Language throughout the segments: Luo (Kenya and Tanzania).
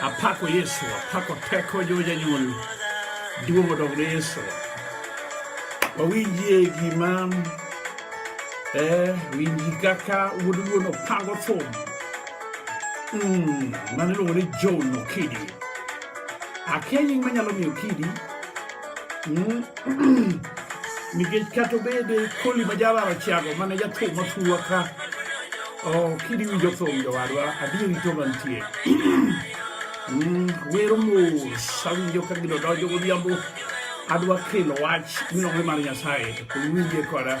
Apako Yesu, apako teko jo janyuol. Duong' odog ne Yesu. Wawinjie gima eh, winji kaka wuod wuon opango thum. Mm, mano iluongo ni John Okidi. Akia nying manyalo miyo Okidi. Mm. nikech kata obed koli ma jalaro chiago mane jathum mafuwa ka Oh, kidi winjo thum jowadwa, adieri to mantie. Mm, wero mos, awinjo ka gino donjo godhiambo. Adwa kelo wach minogre mar Nyasaye, to koro winje koda.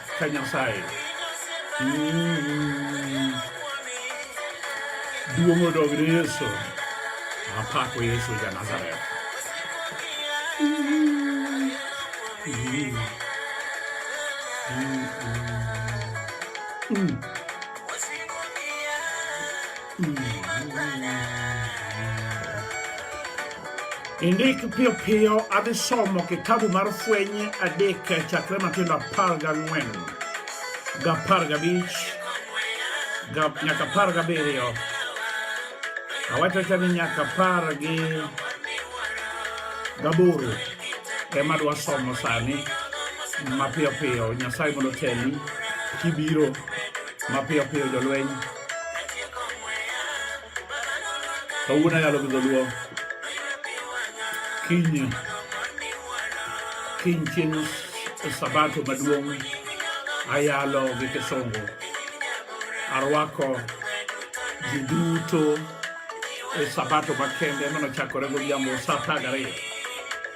Ka Nyasaye. Mm. Duong' odog ne Yesu. Apako Yesu ja Nazareth. Mm. Indik piyo piyo adhi somo kitabu mar Fweny adek chakre matindo apar gang'wen gapar gabich nyaka apar gabiriyo awachocha ni nyaka apar gi gaboro ema dwa somo sani mapiyo piyo nyasaye mondo teli kibiro mapiyo piyo jolweny Kawuono ayalo gi dholuo. Kiny kiny chieng' sabato maduong' ayalo gi Kisungu. Arwako ji duto e sabato makende manochakore godhiambo sa apar gariyo.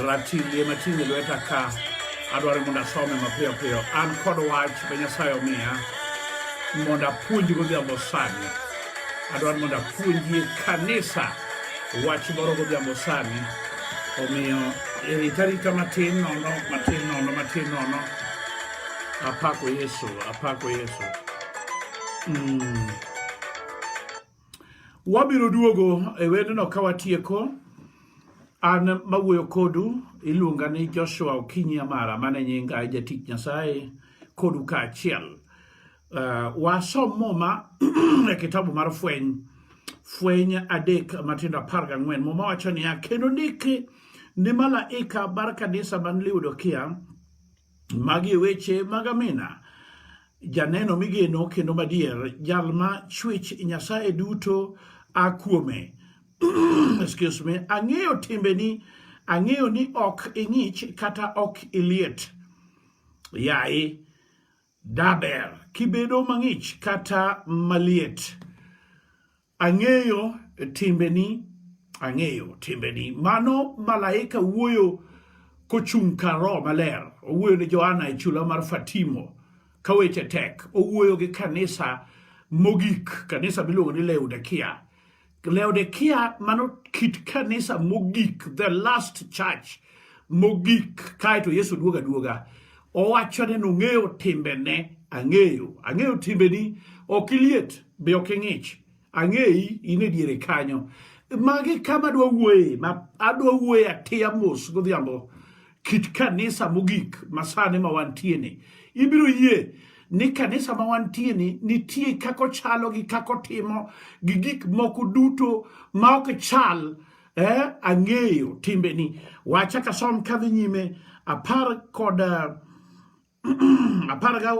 ratillie mating'o e lweta ka adwaro mondo asome mapiyo piyo an kod wach be nyasaye omiya mondo apuonj godhiambo sani adwaro mondo apuonjie kanisa wach moro godhiambo sani omiyo irita rita matin nono matin nono matin nono apako yesu apako yesu mm. Wabiro duogo e wendno ka watieko. An mawuoyo kodu iluonga ni Joshua Okinyi Amara mane nyinga jatich Nyasaye kodu kaachiel. Uh, wasom muma e kitabu mar fweny fweny adek matindo apar gang'wen muma wacho niya kendo ndiki ni malaika mar kanisa man Laodikia Magi e weche mag Amina, janeno migeno kendo madier, jal ma chwech Nyasaye duto a kuome. Excuse me, ang'eyo timbeni, ang'eyo ni ok ing'ich kata ok iliet. Yaye, daber kibedo mang'ich kata maliet. Ang'eyo timbeni, ang'eyo timbeni. Mano malaika wuoyo kochung' kar Roho Maler. Owuoyo ne Johana e chula mar Fatimo ka weche tek. Owuoyo gi kanisa mogik, kanisa miluongo ni Laodikia. Laodikia mano kit kanisa mogik, the last church mogik kae to Yesu duoga duoga owacho ni nong'eyo timbene ang'eyo ang'eyo timbeni ok iliet be ok ing'ich ang'eyi in e diere kanyo magi kama adwa wuoye ma adwa wuoye atiya mos godhiambo kit kanisa mogik masani ma wantie ni ibiro yie ni kanisa ma wantie ni nitie kako chalo gi kako timo gi gik moko duto ma ok chal eh, ang'eyo timbeni wacha kasom kadhi nyime apar kod eh,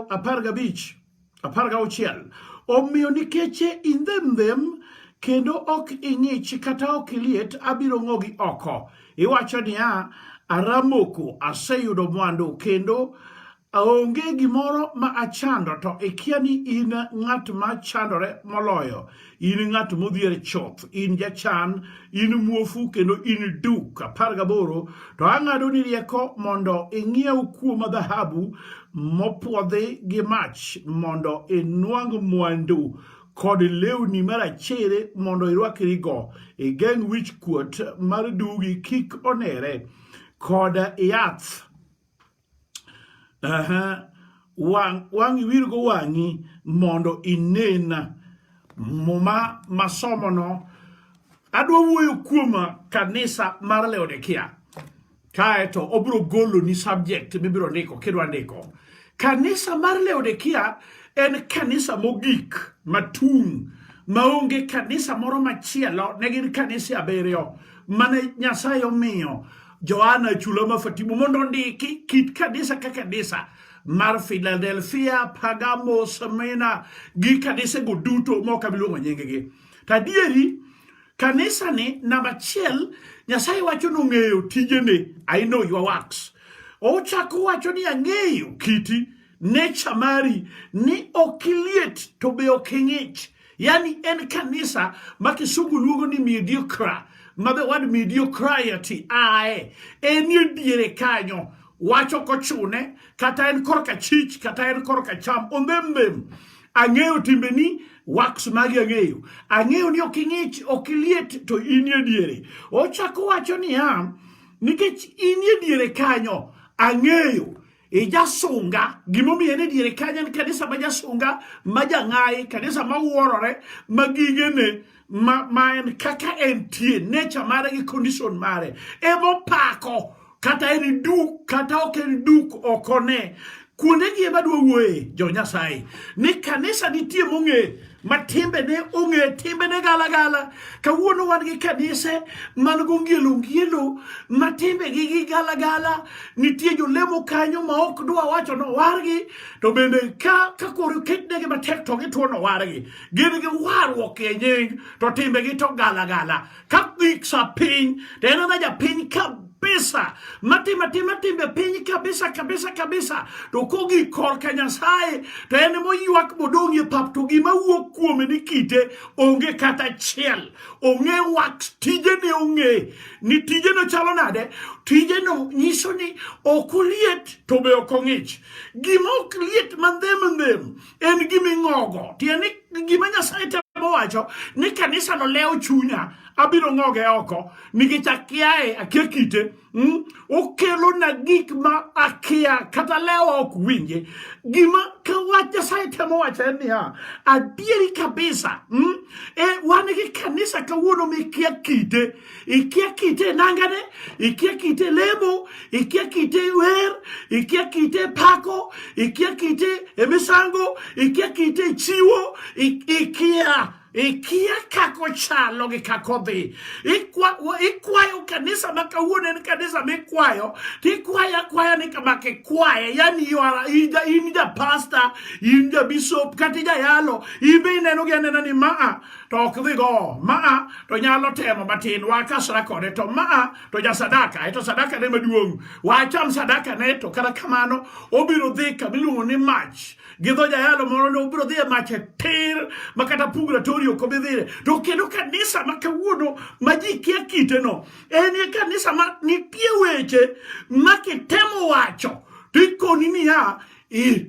apar gabich apar gauchiel omiyo nikech indhem them kendo ok ing'ich kata ok iliet abiro ng'ogi oko iwacho niya aramoko aseyudo mwandu kendo Aonge gimoro ma achando to ikia ni in ng'at ma chandore moloyo, in ng'at modhier choth, in jachan, in muofu kendo in duk. apar gaboro To ang'ado ni rieko mondo ing'iew kuoma dhahabu mopwodhi gi mach mondo inwang' mwandu kod lewni marachere mondo irwakrigo, igeng' wich kuot mar dugi kik onere, kod yath Aha. Wang' wang' iwirgo wang'i mondo inena. Muma masomono adwa wuoyo kuom kanisa mar Laodikia. Kaeto obiro goloni subject mibiro ndiko kidwa ndiko. Kanisa mar Laodikia en kanisa mogik matung' maonge kanisa moro machielo ne gin kanise abiriyo mane Nyasaye omiyo Johana chula ma Fatimu mondo ondiki kit kanisa ka kanisa mar Philadelphia, Pergamo, Smyrna gi kanisego duto ma ok abiluongo nyinggi. To adieri kanisani namba achiel Nyasaye wacho ni ong'eyo tijene, I know your works. Ochako wacho ni ang'eyo kiti nature mari ni ok iliet to be ok ing'ich. Yani en kanisa ma kisungu luongo ni mediocre, ma be wad mediocrity ae enie diere kanyo wacho kochune kata en korka chich kata en korka cham ondhembem ang'eyo timbeni wax magi ang'eyo ang'eyo ni ok ing'ich ok iliet to inie diere ochako wacho niya nikech inie diere kanyo ang'eyo ijasunga gimomiyo ne diere kanya en kanisa ma jasunga ma jang'ayi kanisa ma wuorore ma gigene ma, ma en kaka entie nature mare gi condition mare emopako kata en duk kata ok en duk ok one kuonde gi ema dwa wuoye jo nyasaye ni kanisa nitie mong'e ma timbene ong'e timbene galagala kawuono wan gi kanise man gong'ielo ng'ielo ma timbegi gi galagala nitie jolemo kanyo ma ok dwa wacho nowargi to bende ka kakoro ketnegi matek to gituo nowargi gin gi warruok e nying to timbegi to galagala Katholik sa piny to en ena japiny kabisa matimo atima timbe piny kabisa kabisa kabisa to kogi korka nyasaye to en moywak modong' e pap to gima wuok kuome ni kite onge kata achiel ong'e wax tijene ong'e ni tijeno chalo nade tijeno nyiso ni ok oliet to be ok ong'ich gima ok liet mandhem ndhem en gima ing'ogo tiende ni gima nyasaye temo wacho ni kanisano lewo chunya abiro ng'oge oko nikech akiaye akia kite mm? okelona gik ma akia kata lewa ok winje gima ka wach nyasaye temo wacho en niya adieri kabisa mm? e, wan gi kanisa kawuono mikia kite ikia kite nangane ikia kite lemo ikia kite wer ikia kite pako ikia kite emisango ikia kite chiwo ikia ikia kako chalo gi kako dhi ikwayo kanisa ma kawuono en kanisa mikwayo tikwayo akwaya ni kama kikwaye yani in ja pasta in ja bishop kata ijayalo in be ineno gi anena ni maa to ok dhi go maa to nyalo temo matin wakasra kode to maa to ja sadaka e to sadaka ne maduong' wacham sadaka ne to kata kamano obiro dhi kama iluongo ni mach gi dho jayalo moro ne obiro dhi e mach e tir ma kata purgatory ok obi dhire to kendo kanisa ma kawuono ma ji kia kiteno en e kanisa ma nitie weche ma kitemo wacho to ikoni niya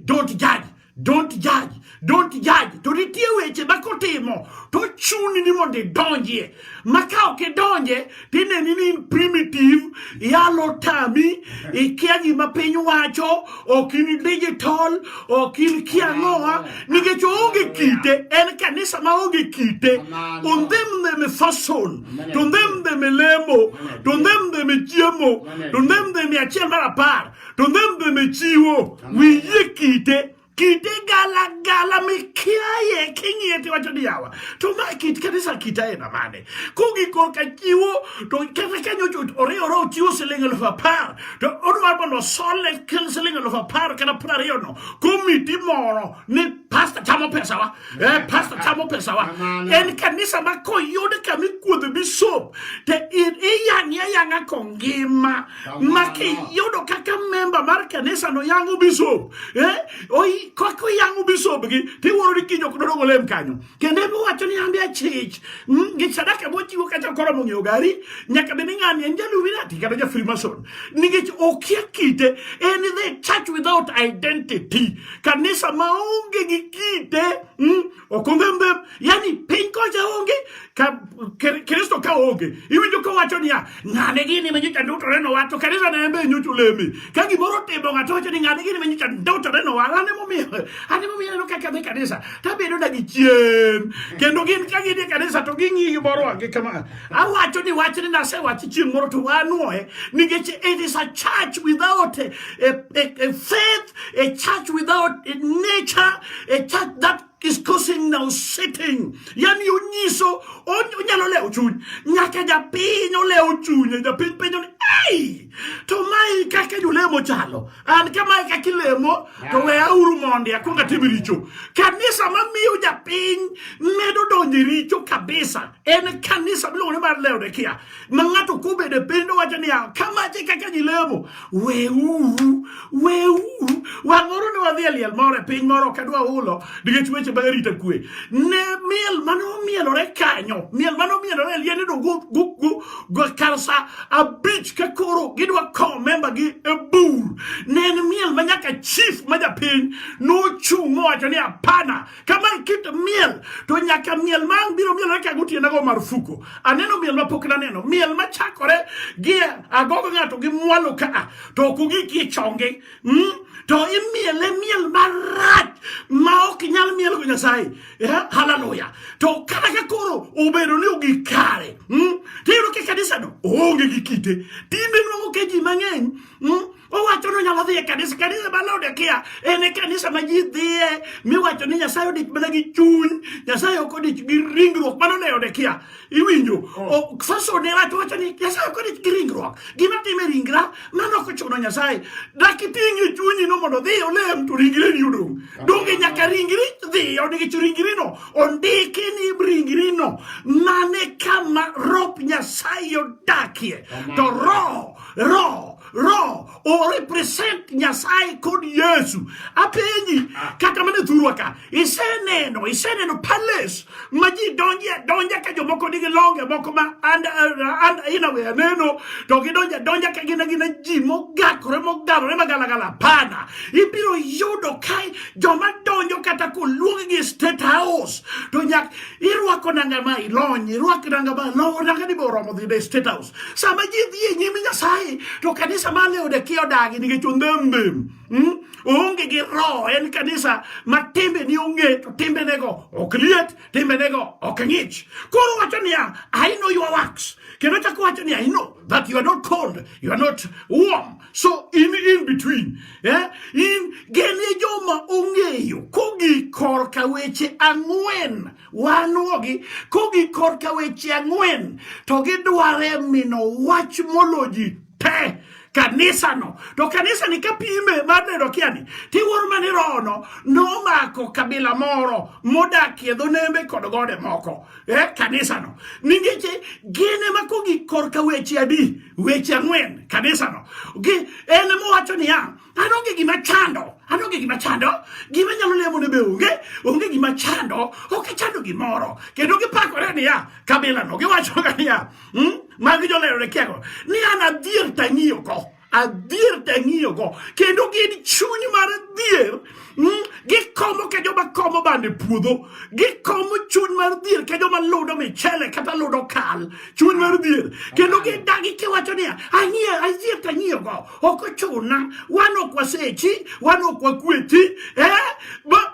don't judge Don't judge, don't judge. To nitie weche ma kotimo to chuni ni mondo idonjie. Ma ka ok idonje to ineni ni in primitive, yalo tami, ikia gima piny wacho, ok in digital, ok in kia ng'owa, nikech oonge kite, en kanisa ma onge kite. On them them e fason, to them them e lemo, to them them e chiemo, to them them e achiel mar apar. to ndhe mbeme chiwo wiye kite kite gala gala mikiaye king'iye tiwacho ni yawa to ma kit kanisa kit aena mane kogi korka chiwo to kata kanyo oriwore ochiwo siling elfu apar to odwa mondo osole kel siling elfu apar kata piero ariyo no komiti moro ni pasta chamo pesawa eh, pasta chamo pesawa en kanisa ma koyud kama ikuodho bisop to iyang'e ayang'a kongima ma kiyudo kaka memba mar kanisa no yango bishop eh? Oi, kaka yango bishop gi tiwuoro ni kiny ok dodong olem kanyo kendo ema wacho ni ambi achich mm, gi sadaka mochiwo kata koro mong'eyo gari nyaka bed ni ng'ani en jaluminati kata ja freemason nikech okia kite en the church without identity kanisa maonge gi kite mm, Ok onge mbep, yani piny kocha onge ka Kristo ka onge. Iwinjo ka wacho niya, ng'ane gini ma nyocha ndutore no wato kanisa na embe nyocha oleme. Ka gimoro timo ng'ato wacho ni ng'ane gini ma nyocha ndutore no wala ne momiyo. Ane momiyo no kaka dhi kanisa. Ta bedo na gi chien. Kendo gin ka gidhi kanisa to ging'i gimoro ange kama. Awacho ni wach ni nase wach chieng' moro to wanuoe nikech it is a church without a, a, a, a faith A church without a nature, a church that is causing now sitting. Yani onyiso onyalo lewo chuny. Nyaka japiny olewo chunye, japiny penjo ni ei to mae kaka julemo chalo. An kamae kaka ilemo to we auru mondi akwong atim richo. Kanisa mamiyo japiny medo donjo e richo kabisa en kanisa miluongo ni mar Laodikia. ma ng'ato kobedo e piny to wacho niya kamache e kaka ji lemo weuru weuru wang'oro ne wadhi e liel moro e piny moro kadwa hulo nikech weche mag arita kwe ne miel mane omielore kanyo miel mane omielore e liende to go kar sa abich ka koro gidwa kowo membagi e bur ne en miel ma nyaka chief ma japiny nochung' mowacho ni apana Kaman kit miel to nyaka miel ma ang' biro miel ka gotiena go marufuku. Aneno miel ma pok naneno. Miel ma chakore gi agogo ng'ato gi mwalo ka a to ok ogik e chonge. Mm? To imiele miel marach ma ok nyal miel go Nyasaye. Yeah? Hallelujah. To kata ka koro obedo ni ogik kare. Mm? Tiyudo ke kanisa no oonge gi kite. Tinde nwang'o ke ji mang'eny. Mm? Owacho ni onyalo dhi e kanisa, kanisa ma Laodikia en e kanisa ma ji dhiye, miwacho ni Nyasaye odich mana gi chuny, Nyasaye ok odich gi ringruok, mano Laodikia. Iwinjo? Oh. Faso ne wacho wacho ni Nyasaye ok odich gi ringruok. Gima time ringra, mano ok ochuno Nyasaye. Dak iting' e chunyi no mondo dhi olem to ringre ni odong'. Donge nyaka ringri dhi odich ringri no, ondiki ni ringri no, mane kama rop Nyasaye odakie. To roho, roho Roho o represent Nyasaye kod Yesu. Apenji ah. kata mana thurwa ka iseneno iseneno palace ma ji donje donje ka jomoko nigi longe moko ma and, uh, and in a way aneno to gidonje donje ka gina gina ji mogakore mogalore magalagala pana ibiro yudo ka joma donjo kata koluong gi state house to nyak irwako nanga ma ilony irwak nanga ma lo nanga ni boromo dhi state house sama ji dhi e nyim nyasaye to kanisa mane odekie odagi nikech ondhembem hmm? oonge gi roho en kanisa ma timbe ni ong'e to timbenego ok liet timbenego ok ng'ich koro wacho niya i know your works kendo chako wacho niya i know that you are not cold you are not warm so in in between eh? in genie joma ong'eyo kogi korka weche ang'wen wanuogi kogi korka weche ang'wen to gidware mino wach molo ji te kanisano to kanisani kapime mar neno kiani tiwuoro mani rohono nomako kabila moro modakie dho nembe kod gode moko e eh, kanisano ningeche gin ema kogi korka weche adi weche ang'wen kanisano en mowacho niya An onge gima chando, an onge gima chando, gima nyalo lemo ne be onge, onge gima chando, ok chando gimoro. Kendo gipakore niya, kabila no giwacho ga niya, hmm? magi jolero ne kiago, ni an adhier tang'iyo ko. adhier tang'iyo go kendo gin chuny mar dhier hmm? gikomo ke joma komo bande puodho gikomo chuny mar dhier ke joma ludo michele kata ludo kal chuny mar dhier kendo gidagi kiwacho niya ang'iyo adhier tang'iyo go ok ochuna wan ok wasechi wan ok wakweti eh?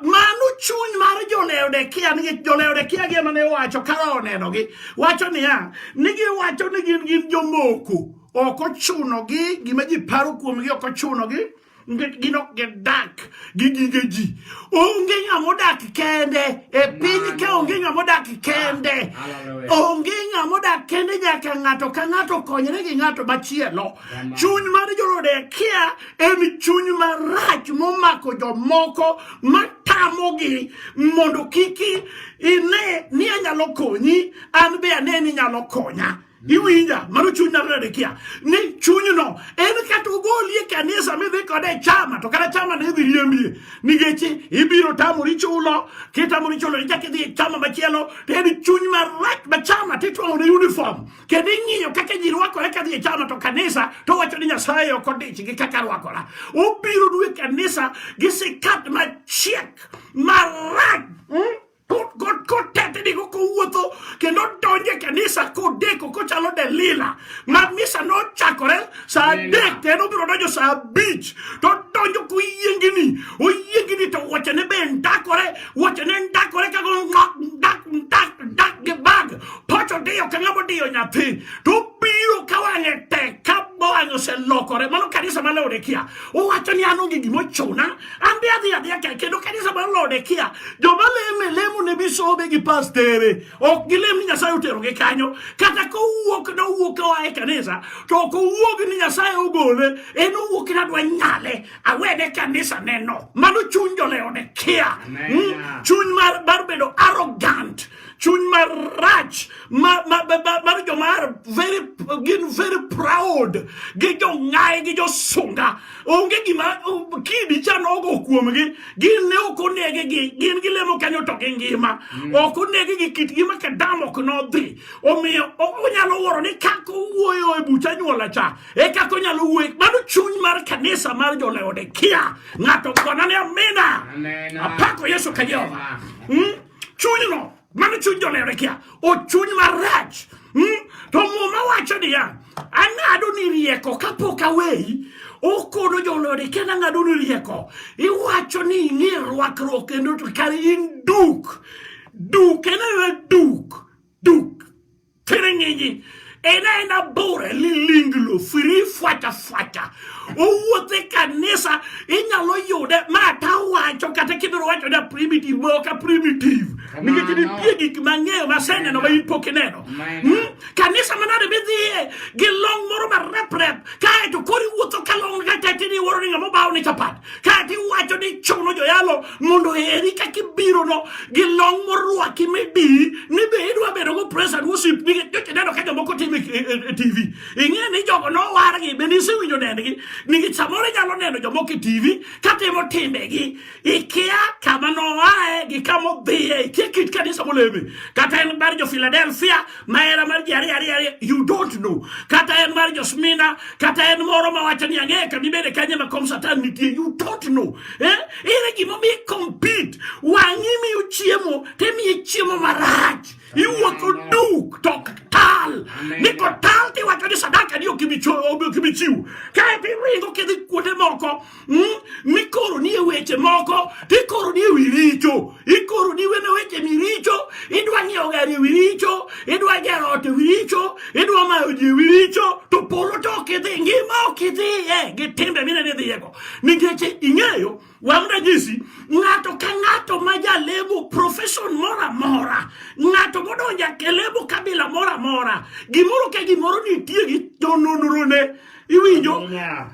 mano chuny mar joleodekia nikech joleodekia gi ema ne wacho kara onenogi wacho niya ni giwacho ni gin gin jomoko ok ochunogi gima ji paro kuomgi ok ochunogi nikech gin ok gidak gi gige ji onge ng'ama odak kende e piny ka onge ng'ama odak kende onge ng'ama odak kende nyaka ng'ato ka ng'ato konyre gi ng'ato machielo Chuny mar Jodekia en chuny marach momako jomoko matamogi mondo kik ine ni anyalo konyi an be ane ni nyalo konya. iwinja mano chuny nyalo nade kia ni chunyno en kata ogoli e kanisa midhi kode e chama to kata chama ne idhi riembie nikech ibiro tamori chulo kitamori chulo ichak idhi e chama machielo to en chuny marach ma chama titwang'o ne uniform kendo ing'iyo kaka ji rwakore ka dhi e chano to kanisa to wacho ni nyasaye ok odich gi kaka rwakora obiro dwe kanisa gi sikat machiek marach hmm? kotetnigo kowuotho kendo donje kanisa kodeko kochalo delila ma misa nochakore saa adek kendo obiro donjo saa abich to donjo koyiengini oyiengini to wachene be ndakore wachene ndakore kago ndak ndak ndak gi bag Pacho diyo ka ng'ama diyo nyathi to obiro ka wang'e tek ka wang'e oselokore mano kanisa ma Laodikia owacho ni an onge gima ochuna an be adhi adhiya ka kendo kanisa ma Laodikia joma leme lemo ne bisobe gi pastere ok gilem ni Nyasaye oterogi kanyo kata kowuok nowuok ka oa e kanisa to ok owuog ni Nyasaye ogole en owuok ni adwa nyale awene kanisa neno mano chuny jo Laodikia hmm? chuny mar bedo arrogant chuny marach mar joma gin very proud gi jong'ayi gi josunga onge gima kidi cha nogo kuomgi gin ne ok onege gi gin gilemo kanyo to gi ngima mm. ok onege gi kit ngima kadam ok nodhi omiyo onyalo wuoro ni kaka owuoyo e bucha nyuola cha e kaka onyalo wuoyo mano chuny mar kanisa mar joleodekia ng'ato kona ni amina apako yesu ka jehova chunyno mano chuny jonere kia ochuny marach hmm? to muma wacho niya ang'ado ni rieko kapok aweyi okono jolode kendo ang'ado ni rieko iwacho ni ing'e rwakruok kendo kar in duk duk en duk duk Tiringinyi ena ena bore lilinglo firi fwata fwata owuothe kanisa inyalo yude ma tawacho kata kidoro wacho da primitive moka primitive nikech nitie gik mang'eyo maseneno ma in pok ineno hmm? kanisa manade midhiye gi long moro mareprep kaeto koro iwuotho ka long katete ni iwuoro ni ng'ama obawone chapat kaeto iwacho ni chuno joyalo mondo eri kaka ibirono gi long morwaki midi ni be idwa bedo go press and worship nikech joche neno ka jomoko timo e, e, e tv ing'e ni jogo nowargi be nisewinjo nendgi nikech samoro inyalo neno jomoko e tv katimo timbegi ikia kama noae gi kama odhiye ikia kit kanisa moleme kata en bar jo philadelphia mahera mar ji ariyo ariyo ariyo you don't know kata en mar josmina kata en moro mawacho ni ang'eyo ka dibede kanye ma kom satan nitie you don't know eh? ere gimomiyo compete wang'i miyo chiemo timiye chiemo marach iwuotho duk to ok tal ni kotal tiwacho ni sadaka ni ok ibi chiwo kaeto iringo kidhi kuonde moko hmm? mikoro nie weche moko tikoro nie wi richo ikoro ni wene weche miricho idwa ng'iewo gari e wi richo idwa gero ot e wi richo idwa mayo ji e wi richo to polo to ok idhi ngima ok idhiye gi timbe mine ni dhiyego nikech ing'eyo wang' ranyisi ng'ato ka ng'ato ma jalemo profesion moro amora ng'ato modonjo e lemo kabila moro amora gimoro ka gimoro nitie gi jononrone iwinjo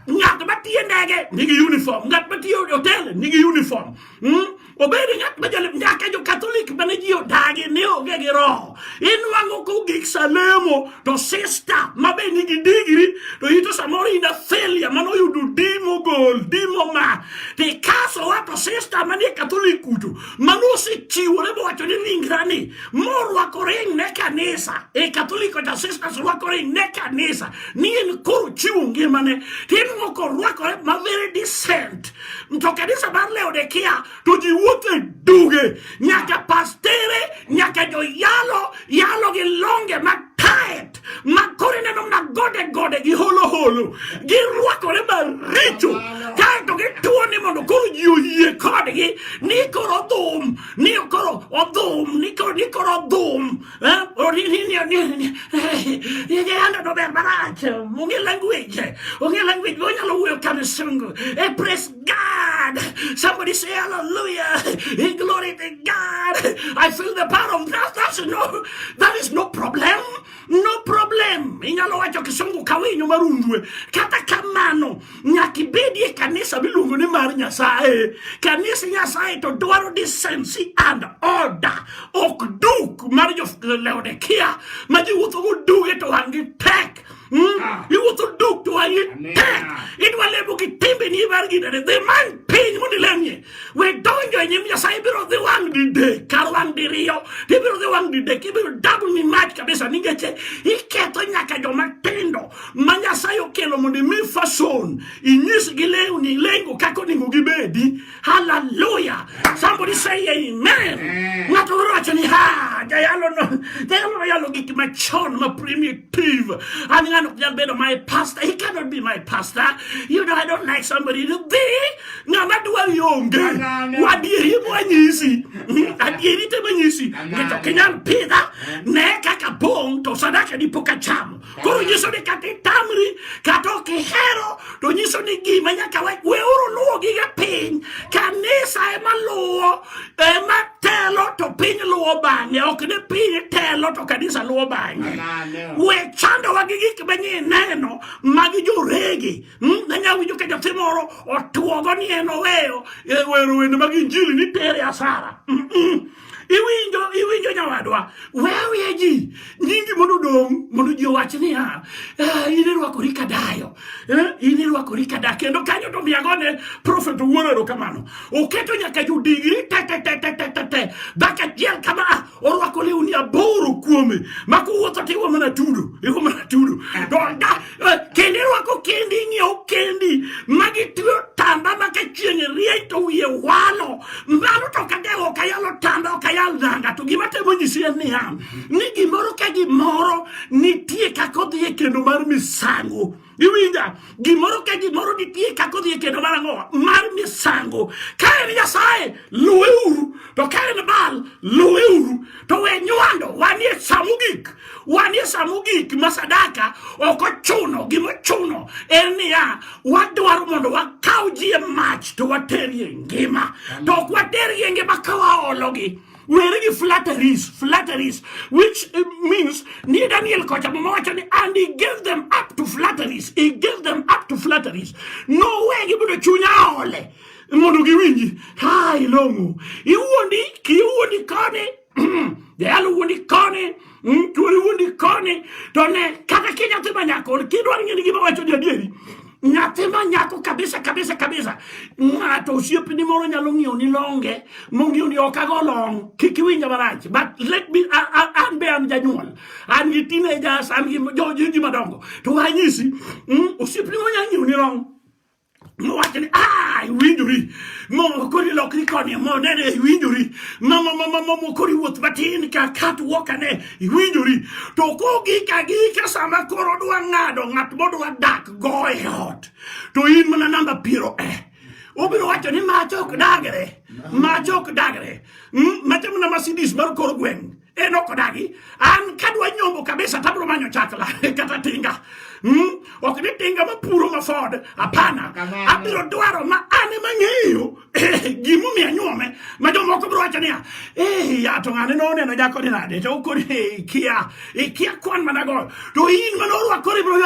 ng'at matiyo ndege nigi uniform ng'at matiyo hotel nigi uniform hmm? obed ng'at ma jalep nyaka jo katholik mane ji odagi ne onge gi roho inwang'o kogik salemo to sista ma be nigi digri to ito samoro ina failure mane oyudo dimo gol dimo ma tikaso wa to sista manie katholik kuto mane osechiwore mowacho ni ringrani morwako ring ne kanisa e katholik oja sista sorwako ring ne kanisa ni en koro chiwo ngimane tinwo korwakore ma very decent to kanisa mar Laodikia to ji wuotho e duge nyaka pastere nyaka joyalo yalo gi longe ma tight ma koro ineno mna gode gode gi holo holo girwakore maricho kaeto gituo ni mondo koro ji oyie kodgi ni koro odhum ni koro odhum ni koro odhum Yegerando dober marach. Onge language. Onge language. Onyalo wuoyo kamisungu. E praise God. Somebody say hallelujah. In glory to God. I feel the power of that. That's no, that is no problem. No problem. Inyalo wacho kisungu kawinyo marundwe. Kata kamano. nyaka ibedi e kanisa miluongo ni mar nyasaye kanisa nyasaye to dwaro decency and order ok duk mar jolaodikia ma ji wuothogo duge to wang' gi tek hmm? ah. iwuotho duk to wang' gi tek idwa lemo gi timbeni mar ginene dhi many piny mondo ilemie we donjo e nyim nyasaye ibiro dhi wang' didek kar wang' diriyo ibiro dhi wang' didek ibiro dabni mach kabisa ningeche iketho nyaka joma tindo ma Nyasaye okelo mondo imi fason inyisgi lewni lengo kaka onego gibedi. Haleluya! Somebody say amen. Ng'ato moro wacho ni ha jayalo no jayalo yalo gik machon ma primitive. An ng'ano ok nyal bedo my pastor. He cannot be my pastor. You know I don't like somebody to be ng'ama dwar yonge wadieri mwanyisi hmm, adieri te manyisi ng'ato ok nyal pidha ne kaka bong' to sadaka dipo ka chamo Koro nyiso ni kata itamri kata ok ihero to nyiso ni gima nyaka we weuru luwo gige piny. Kanisa ema luwo ema telo to piny luwo bang'e, ok ni piny telo to kanisa luwo bang'e. We chandowa gi gik manye ineno mag joregi. Hmm? Nanya winjo ka nyathi moro otuogo ni en oweyo e, wero wende mag injili ni tere asara. Mm -mm. Iwinjo, iwinjo nyawadwa, wewe ji nyingi mondo odong' mondo ji owach niya, ah, in irwakori ka dayo, eh, in irwakori ka da kendo kanyo to miyago ne prophet Owuoro erokamano. Oketo nyaka jodigri te te te te te te te dhako achiel kama ah, orwako lewni aboro kuome ma kowuotho to iwe mana tudo, iwe mana tudo. To da- kendi rwako kendi ing'iewo kendi magi tiyo tamba ma ka chieng' rieny to wiye walo mano to kata ok ayalo tamba ok ayal dhanga to gima temo nyisi en niya ni gimoro ka gimoro nitie kaka odhi e kendo mar misango iwinja gimoro ka gimoro nitie kaka odhi e kendo mar ang'o mar misango ka en nyasaye luweuru to ka en bal luweuru to we nywando wanie sa mogik Wanie sa mogik ma sadaka ok ochuno gimochuno en niya wadwaro mondo wakaw ji e mach to waterie ngima to ok waterie ngima ka waologi were gi flatteries flatteries which eh, means ni daniel kocha mama wacho ni and he gave them up to flatteries he gave them up to flatteries no way gibudo chunya ole mondo giwinji ha ilong'o iwuondi kiwuondi kone Jayalo wuondi koni, chwori wuondi koni, to ne kata ki nyathi ma nyako, kidwaro ng'eyo gima wacho ni adieri, nyathi ma nyako kabisa kabisa kabisa, ng'ato osiepni moro nyalo ng'iewo ni longe, mong'iewo ni ok ago long, kik iwinja marach, but let me, an be an janyuol, an gi teenagers, an gi joji madongo, to anyisi, mm, osiepni moro nyalo ng'iewo ni long, mowacho ni ah, iwinjori mokori lokri koni monene iwinjori mamamamamokori wuoth matin ka kat wokane iwinjori to kogik agika sama koro dwa ng'ado ng'at modwa dak go e ot to in mana namba piero e eh. obiro wacho ni mach ok dagre mach ok dagre hmm? machamo na masidis mar kor gweng' en ok odagi an kadwa nyombo kabisa tabro manyo chakla kata tinga mm? ok ni tinga mapuro ma ford hapana abiro dwaro ma an ema ng'eyo gimomiyo anyuome ma jomoko biro wacho niya eh, ya to ng'ane noneno jakoni nade to koni eh, ikia ikia kwan manago to in mane orwako ribro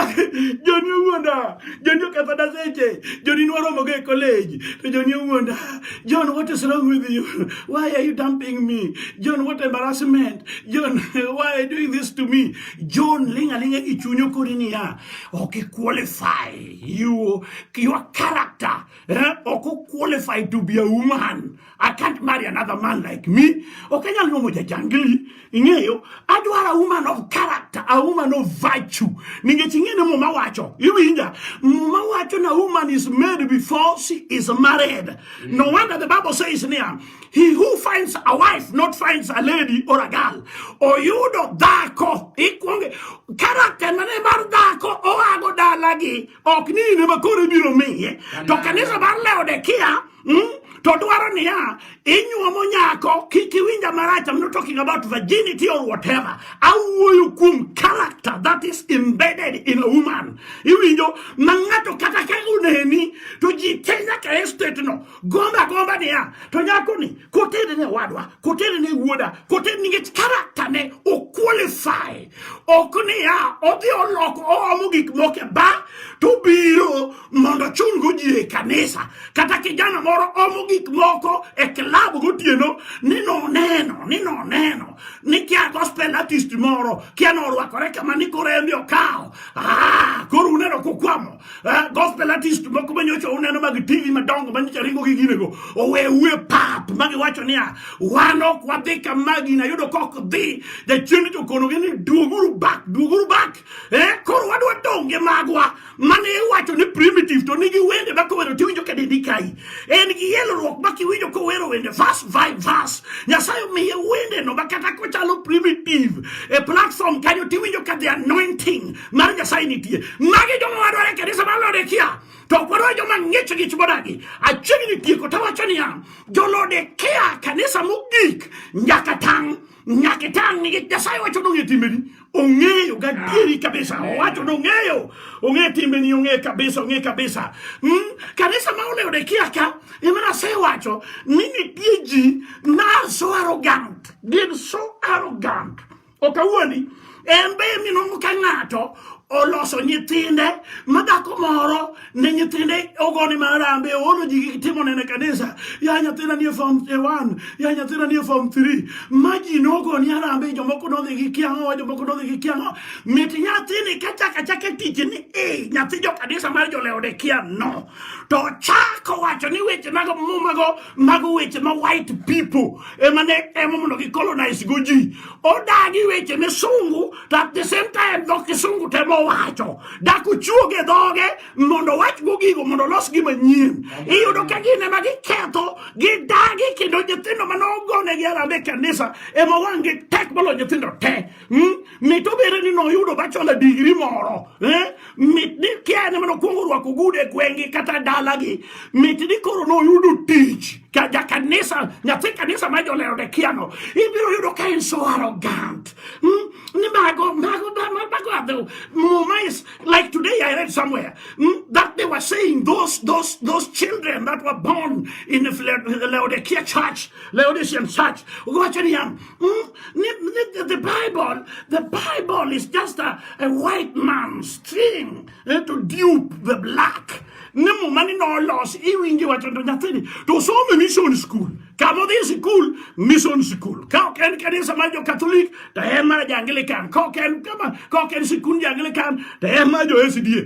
joni owuonda joni okethona seche joni nwaromogo e college to joni owuonda john what is wrong with you why are you dumping me john what embarrassment john why are you doing this to me john ling alinga gi chuny okori niya ok iqualify you, your character eh? ok oqualify to be a woman I can't marry another man like me. Okanyal no moja jangili. Ingeyo, adwar a woman of character, a woman of virtue. Ningechi ingene muma wacho. Iwinja, muma wacho na woman is made before she is married. Mm. No wonder the Bible says near, he who finds a wife not finds a lady or a girl. Or you do dako. Ikwonge, character mane mar dako oago dalagi. Ok ni ne makore biro miye. To kanisa mar Laodikia mm? to dwaro niya inyuomo nyako kik iwinja marach I'm not talking about virginity or whatever awuoyo kuom character that is embedded in a woman iwinjo ma ng'ato kata ka uneni to ji te nyaka e state no gomba gomba niya to nyakoni kotere ne wadwa kotere ne wuoda kotere nikech character ne oqualify ok niya odhi oloko oomo gik moko e ba to biro mondo ochulgo ji e kanisa kata kijana moro omo gik moko e klab gotieno ni noneno ni noneno ni kia gospel artist moro kia norwakore kama ni koro embi okawo ah, koro uneno kukwamo eh, gospel artist moko manyocha uneno mag tv madongo manyocha ringo gi ginego owewu e pap magiwacho niya wan ok wadhi kama gina yudo kok dhi jachieng' jokonogi ni duoguru bak duoguru bak eh, koro wadwa donge magwa mane iwacho ni primitive to nigi wende ma kowero tiwinjo ka dendi kayi en gi yelruok ma kiwinjo kowero wende vas vi vas nyasaye omiye wende no ma kata kochalo primitive e platform kanyo tiwinjo ka the anointing mar nyasaye nitie magi joma wadware kanisa mar lodekia to ok wadware joma ng'ich ng'ich modagi achiegni tieko tawacho niya jolodekia kanisa mogik nyaka tang' nyaka itang' nigi nyasaye wacho ni ong'e timbeni ong'eyo gadieri ah, kabisa owacho ni ong'eyo ong'e timbeni ong'e kabisa ong'e kabisa hmm? kanisa ma olewo dekia ka ema nyasaye wacho ni nitie ji na so arrogant gin so arrogant okawuoni en be minongo ka ng'ato oloso nyithinde ma dhako moro ne nyithinde ogone marambe oolo ji gi timo nene kanisa ya nyathina nie form 1 ya nyathina nie form 3 ma ji nogoni arambe jomoko nodhi gi kiang'o jomoko nodhi gi kiang'o mit nyathini ka chaka chaka tich ni e nyathi jo kanisa mar joleode kia no to chako wacho ni weche mago mumago mago weche ma white people ema ne emo mondo gi colonize go ji odagi weche misungu to at the same time dho kisungu temo wacho dak ochuoge dhoge mondo wachgo gigo mondo olos gi manyien iyudo ka gin ema giketho gidagi kendo nyithindo mane ogonegi arande kanisa ema wang'gi tek molo nyithindo te hmm? mit obere ni noyudo bachola digri moro eh? mit ni kia ene mane okwongo orwako gude gweng'gi kata dalagi mit ni koro noyudo tich ka ja kanisa nyathi kanisa ma jolero de kiano ibiro yudo ka en so arrogant mm? ni mago mago mago are the muma is like today i read somewhere mm? that they were saying those those those children that were born in the laodicea church laodicean church wacho niya mm? the bible the bible is just a, a white man's thing eh, to dupe the black ni muma ni nolosi iwinji wacho to nyathini to some mission school kama odhi sikul mission school ka ok en kanisa mar jokatholik to en mar jaanglikan ka ok en kama ka ok en sikund jaanglikan to en mar jo sda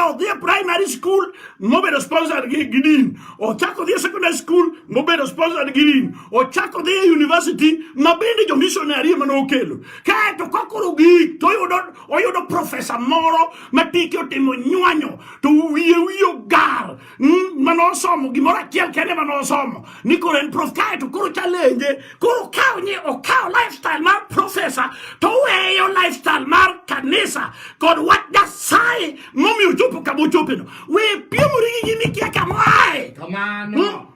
odhi e primary school mobedo sponsor gi din ochako odhi e secondary school mobedo sponsor gi din ochako odhi e university ma bende jo missionary ema nokelo kaeto kakoro gik toyudo oyudo profesa moro ma tike otimo nywanyo to wiye wiye ogar hmm, mane osomo gimoro achiel kende mane osomo ni koro en prof kae to koro chalenje koro okaw ni okaw lifestyle mar profesa to oweyo lifestyle mar kanisa kod wach nyasaye momiyo ochopo kama ochopeno we piemori gi gimikia kama ae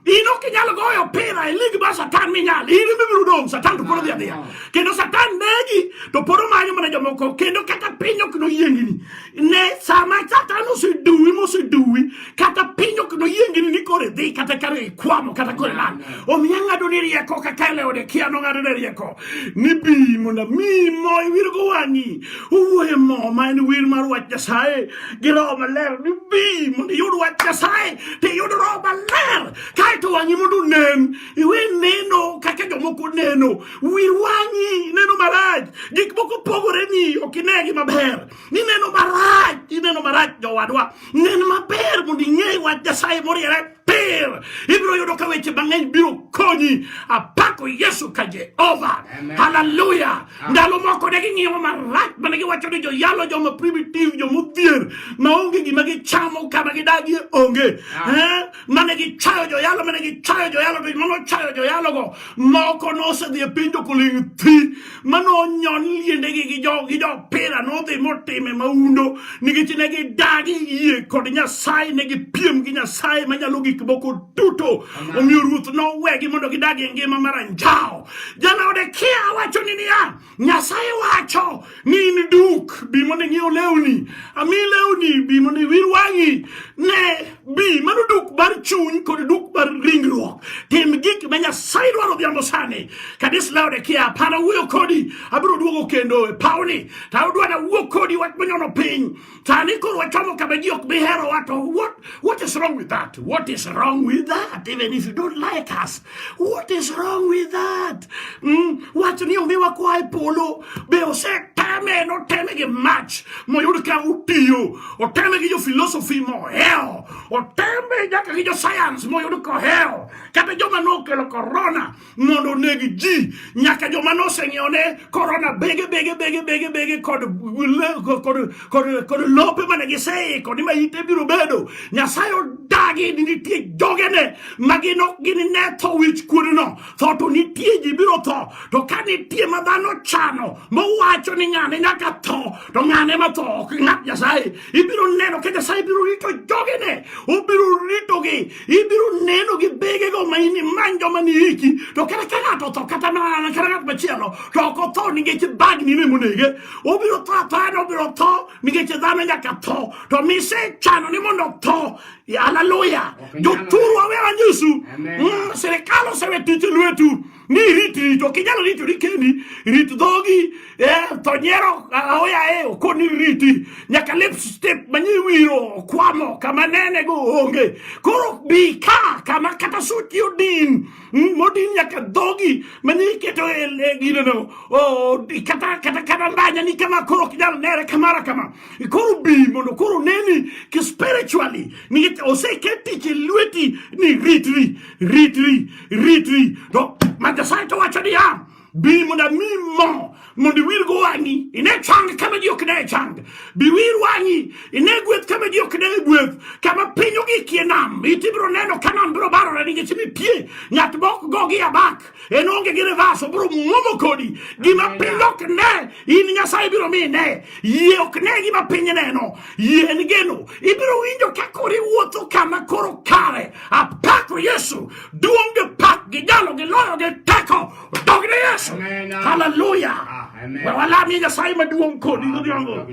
in ok inyal goyo opira e lig mar satan minyal in mibiro dong' satan to pod odhi adhiya ah. kendo satan negi to pod omanyo mana jomoko kendo kata piny ok noyiengini ne sama satan oseduwi moseduwi kata piny ok noyiengini ni koro idhi kata kare ikwamo kata koro ilal ah. omiyo ang'ado ni rieko kaka eleode kia nong'ado ne rieko ni bi mondo mi mo iwirgo wang'i owuoye mo ma en wir mar wach nyasaye gi roho maler ni bi mondo iyud wach nyasaye to iyud roho maler kaeto wang'i mondo onen iwe neno kaka jomoko neno wir wang'i neno marach gik moko pogore ni ok inegi maber ineno marach ineno marach jowadwa nen maber mondo ing'e wach nyasaye moriere pir ibiro yudo ka weche mang'eny biro konyi apako yesu ka jehova haleluya ndalo moko ne ging'iyowa marach mana giwacho ni joyalo joma primitive joma odhier maonge gima gichamo kama gidagie onge ah. eh? mane gichayo joyalo mane gichayo joyalo to mane ochayo joyalogo moko nosedhi e piny jokoling' thi mane onyon liendegi gi jopira nodhi motime maundo nikech ne gidagi yie kod nyasaye ne gipiem gi nyasaye manyalo gik moko duto omiyo ruoth nowegi mondo gidagi e ngima mar anjawo Jalaodikia wacho ni niya, Nyasaye wacho ni in duk, bi mondo ing'iew lewni, ami lewni, bi mondo iwir wang'i, ne bi. Mano duk mar chuny kod duk mar ringruok. Tim gik ma Nyasaye dwaro odhiambo sani. Kadis Laodikia, apara wuoyo kodi, abiro duogo kendo e pawni, to adwa na wuo kodi wach manyono piny. Sani koro wachamo kama ji ok bi hero wato what, what is wrong with that? What is wrong with that? Even if you don't like us. What is wrong with that? Mm, wacho ni onge wakwa e polo be oseteme noteme gi mach moyud ka utiyo oteme gi jo philosophy mohewo oteme nyaka gi jo science moyud kohewo kata joma nokelo corona mondo oneg ji nyaka joma noseng'iewo ne korona bege bege bege bege bege kod kod kod kod lope mane giseiko ni ma ite biro bedo nyasaye odagi ni nitie jogene ma gin ok gin ne tho wich kuodno tho to nitie ji biro tho to ka nitie ma dhano chano mowacho ni ng'ane nyaka tho to ng'ane ma tho ok ng'at nyasaye ibiro neno ka nyasaye biro rito jogene obiro ritogi ibiro neno gi begego ma in imany joma ni iki to kata ka ng'ato otho kata mana kata ng'at machielo to ok otho nikech bagni ne monege obiro tho athoya no obiro tho nikech dhano nyaka tho to misechano ni mondo otho haleluya joturu awe wanyisu mm, sirikal osewe tich e lwetu ni rit rit ok inyalo ritori kendi rit dhogi eh, to nyiero aoya e okoni riti nyaka lip step manyi wiro okwamo kama nene go onge koro bi ka kama kata suti odin hmm, modin nyaka dhogi manyi iketo e, e gineno kata kata kata ndanya ni kama koro ok inyalo nere kamara kama koro bi mondo koro neni ki spiritually nikech oseketi e lweti ni ritri ritri Ritri, no, ma Nyasaye to wacho niya, bi mondo ami mo mondo iwir go wang'i ine chang kama ji ok ne chang biwir wang'i ine gweth kama ji ok ne gweth kama piny ogikie nam iti biro neno ka nam biro barore nikech mipie ng'at mok go gi abak en onge gi revas obiro mwomo kodi gima piny ok ne in nyasaye biro mi ne yie ok ne gima piny neno Yien geno, ibiro winjo ka kori wuotho kama koro kare. Apako Yesu, duong' gi pak gi jalo gi loyo gi teko. Dog ne Yesu. Haleluya. We walamie Nyasaye maduong' kodi godhiambo.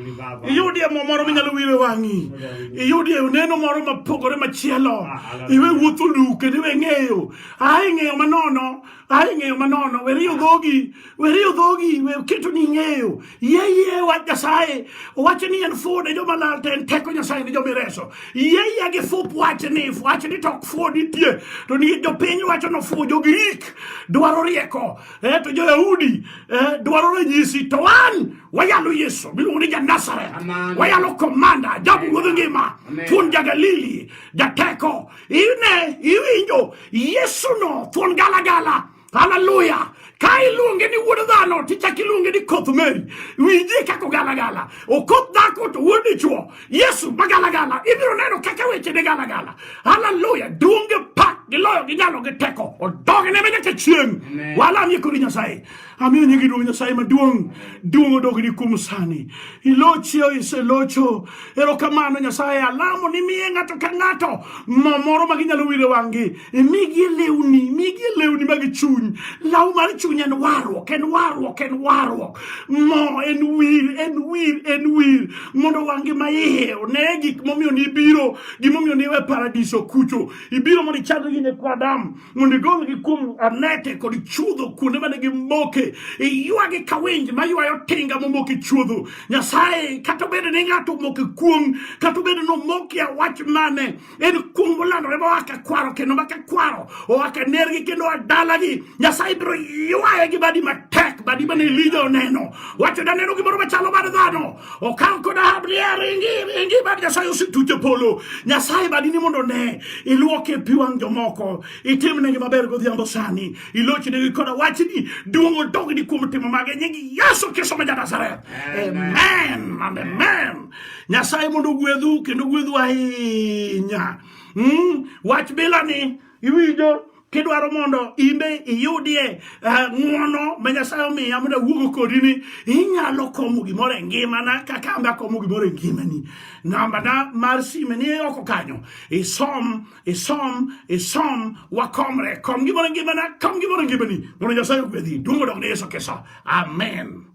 Iyudie mo moro minyalo wire wang'i. Iyudie oneno moro mapogore machielo. Iwe wuotho luke, iwe ng'eyo. Ae ng'eyo manono. Ai ng'eyo manono, we riyo dhogi, we riyo dhogi, we keto ni ng'eyo. Yie yie wach Nyasaye, owacho ni en fuwo ne joma lal to en teko Nyasaye ne joma ireso. Yie yie gi fup wach ni, wach ni to ok fuwo nitie, to ni jopiny wacho ni ofuwo, jo-Grik dwaro rieko, eh, to jo-Yahudi eh, dwaro ranyisi, to wan wayalo Yesu miluongo ni Ja-Nazareth, wayalo komanda, jabu ruodh ngima, thuon ja-Galili, jateko, Ine iwinjo Yesuno thuon galagala. Haleluya. Ka iluonge ni wuod dhano to ichak iluonge ni koth Mary. Winji kaka ogalagala. Okoth dhako to wuod dichwo. Yesu magalagala. Ibiro neno kaka weche ne galagala. Haleluya. Duonge pak giloyo ginyalo gi teko. Odogne me nyaka chieng'. Walamie kodi Nyasaye. Amiyo nyingi duong' Nyasaye maduong', duong' odogni kuom sani. Ilochi o iselocho. Erokamano Nyasaye, alamo ni miye ng'ato ka ng'ato mo moro ma ginyalo wire wang'gi. Imigi lewni, imigi lewni mag chuny. Law mar chuny en warruok, en warruok, en warruok. Mo en wir, en wir, en wir. Mondo wang'gi ma iye one gik momiyo nibiro, gimomiyo niwe paradiso kucho. Ibiro mondo ichadgi ne kwadam. mondo igolgi kuom anete kod chuodho kuonde mane gimoke iywagi ka winj maywayo tinga momoke chuodho nyasaye kata obedo ni ng'ato omoke kuong kata obedo ni omoke awach mane en kuong molandore ma waka kwaro kendo maka kwaro owaka nergi kendo adalagi nyasaye biro ywaye gi badi matek badi mane elija oneno wacho daneno gimoro machalo mar dhano Okang koda habria ringi ringi bad Nyasaye osetucho polo. Nyasaye badini mondo ne iluoke pi wang' jomoko. Itim negi maber godhiambo sani. Iloch negi koda wachni duong' odogni kuom timo mage nying Yesu Kristo ma Nazareth. Amen. Amen. Amen. Nyasaye mondo ogwedhu kendo ogwedhu ahinya. Mm, wach bila ni iwinjo kidwaro mondo imbe iyudie eh, ng'uono ma nyasaye omiya mondo awuogo kodi ni inyalo komo gimoro e ngimana kaka ambe akomo gimoro e ngimani nambana mar sime ni oko kanyo isom isom isom wakomre kom gimoro e ngimana kom gimoro e ngimani mondo nyasaye ogwedhi duong' odok ne yesu kristo amen